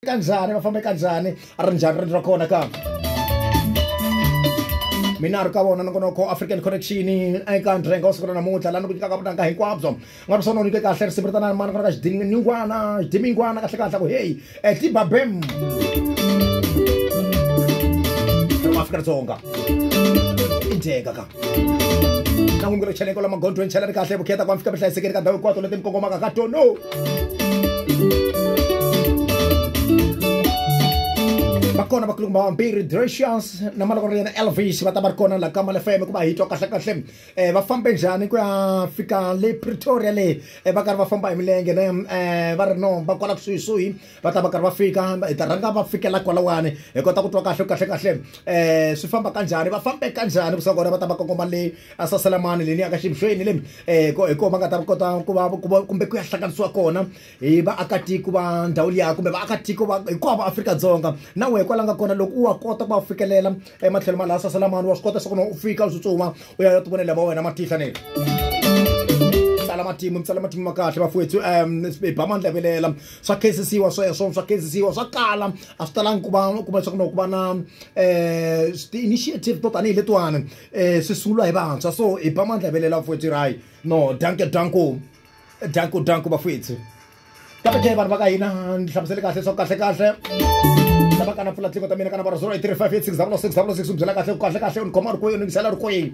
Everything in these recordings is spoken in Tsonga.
eka njhani va fambeka njhani a ri njhani riendzo ra kona ka mina ri ka vona nongonoko african connection eka ndrenga wa siku ra namuntlha laha ni ku nyikaka vunanga hinkwabyo nga ri swona u nyike kahle risimu ritanani mani ku na ka xidimingwana xidimingwana kahle kahle ku heyi etlibabem afrika dzonga i dyeka ka na n'wi ngure cheleko lama gondweni chela ri kahle vukheta ku fika vuhlayisekeli ka ndhawu hinkwato leti mi kongomaka ka tono va kona vakulungu vambirhi drecius na maloko ra yena elvis va ta va ri kona la ka malefm ku va hi twa kahle kahle um va fambe njhani ku ya fika le pretoria le um va karhi va famba hi milenge ne um va ri no va kwala kusuhisuhi va ta va karhi va fika hi ta rhanga va fikela kwalawani hi kota ku twa kahle kahle kahle um swi famba kanjhani va fambe kanjhani kusuka kona va ta va kongoma le a saselamani leni aka xibusweni le um hi kona va nga ta kota ku va ku va kumbe ku ya hlanganisiwa kona hi vaakatiko va ndhawu liya kumbe vaakatiko va hinkwavo va Afrika-Dzonga na wehe kwala nga kona loko u wa kota ku va fikelela ematlhelo ma laha saselamani wa swi kota leswaku u fika u tsutsuma u ya ya tivonela va wena matihla ne tsala matimu mi tsala matimu ma kahle bafowethu um hi ba mandla velela swa khensisiwa sweswo swa khensisiwa swa kala a swi talangi ku va kuma leswaku no ku va na um ti-initiative to tanihi letiwani um swi sunguriwa hi vantshwa so hi ba mandla velela vafwethu rayi no danke danko danko danko vafwethu kambe ke vanhu va ka hina ni hlamusele kahle leswaku kahle kahle lava kana pfula tlingo ta mina kana varasolo i three five eight six zero six zero six u byela kahle ku kahle kahle u ni khoma ri kwihi u ni yingisela ri kwihi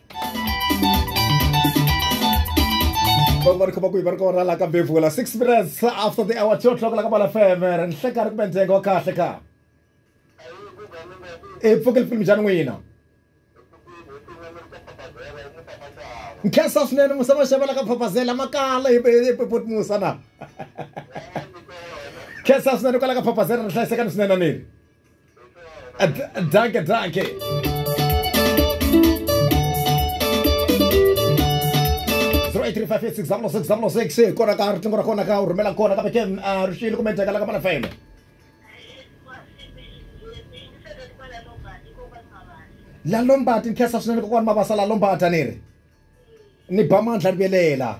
vanhu va ri khoma kwihi va ri kona la ka bevula six minutes after the hour two o'clock la ka bala fm ri ni hleka ri kumbe ndzenga wa kahle ka i pfuke lipfilimi bya ni n'wina nkhensa swinene musa maxava la ka phapazela makala hi pepoti musa na nkhensa swinene kwala ka phapazela ri hlayisekani swinene niri Danke, danke. kona ka riqingho ra kona ka u rhumela kona kambe ke ri xiyile kumbe njhaka la ka mana fm la lombati ni khensa swinene kokwani mavasa la lombata ni ri ni ba mandla ni velela